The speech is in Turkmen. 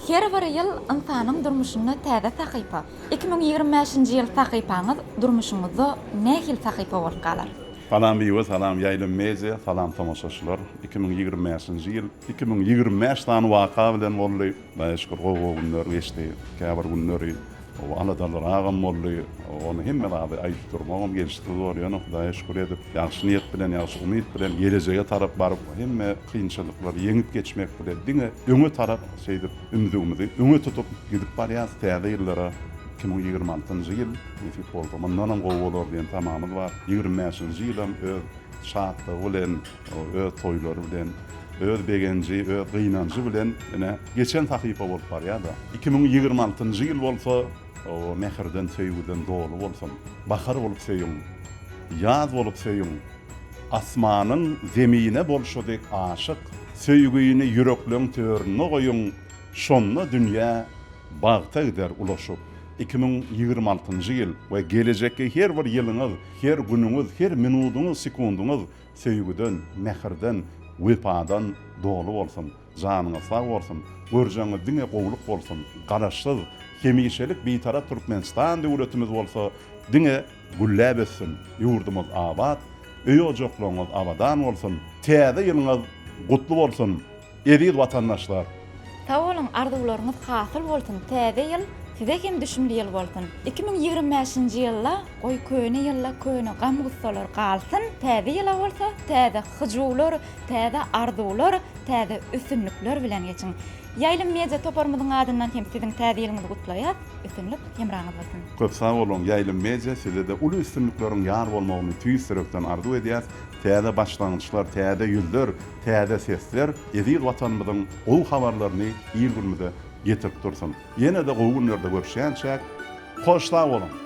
Her bir ýyl ynsanyň durmuşynda täze sahypa. Iki müň ýigrimi bäşinji ýyl sahypaňyz durmuşyňyzda nähili sahypa bolup galar? Salam Biba, salam Ýaýlym Media, salam tomaşaçylar. Iki müň ýigrimi bäşinji ýyl iki müň ýigrimi bäş sany waka bilen boldy. Hudaýa şükür gowy-gowy günler geçdi. Käbir günleri O aladalar agam boldy. Ony hemme zady aýdyp durmagam gelşiksiz bor. Ýöne Hudaýa şükür edip, ýagşy niýet bilen, ýagşy umyt bilen gelejege tarap baryp, hemme kynçylyklary ýeňip geçmek bilen diňe öňe tarap şeýdip ümzügimizi öňe tutup gidip barýas. Täze ýyllara iki müň ýigrimi altynjy ýyl nesip bolsa mundanam gowy bolar diýen tamamyz bar. Ýigrimi bäşinji ýylam öz şatlygy bilen, Ol öz toýlary bilen, öz begenji, öz gynanjy bilen ine, geçen sahypa bolup barýar-da. Iki müň ýigrimi altynjy ýyl bolsa, o mähirden, söýgüden doly bolsun. Bahar bolup söýüň, ýaz bolup söýüň, asmanyň Zemine bolşy dek aşyk, söýgini ýürekleň töründe goýuň, şonda dünýä bagta gider ulaşyp. Iki müň ýigrimi altynjy ýyl we gelejekki her bir ýylyňyz, her günüňiz, her minudyňyz, sekundyňyz söýgüden, mähirden, wepadan doly bolsun, janyňyz sag bolsun, görjeňiz diňe gowulyk bolsun, Garaşsyz, hemişelik Bitarap Türkmenistan döwletimiz bolsa diňe gülläp össün, ýurdumyz abat, öý-ojaklaryňyz abadan bolsun, täze ýylyňyz gutly bolsun! Eziz watandaşlar! Sag boluň arzuwlaryňyz hasyl bolsun täze ýyl size hem düşümli ýyl bolsun iki müň ýigrimi bäşinji ýylda goý köne ýylda köne gam gussalar galsyn täze ýyla bolsa täze hyjuwlar täze arzuwlar täze üstünlikler bilen geçiň ýaýlym media toparymyzyň adyndan hem siziň täze ýylyňyzy gutlaýas üstünlik hemraňyz bolsun. Köp sag boluň Ýaýlym Media sizede uly üstünlikleriň ýar bolmagyny tüýs ýürekden arzuw edýäs täze başlangyçlar täze ýüzler Täze sesler eziz Watanymyzyň gowy habarlaryny il-günümize getirip dursun. Ýene-de gowy günlerde görüşýänçäk, hoş sag boluň!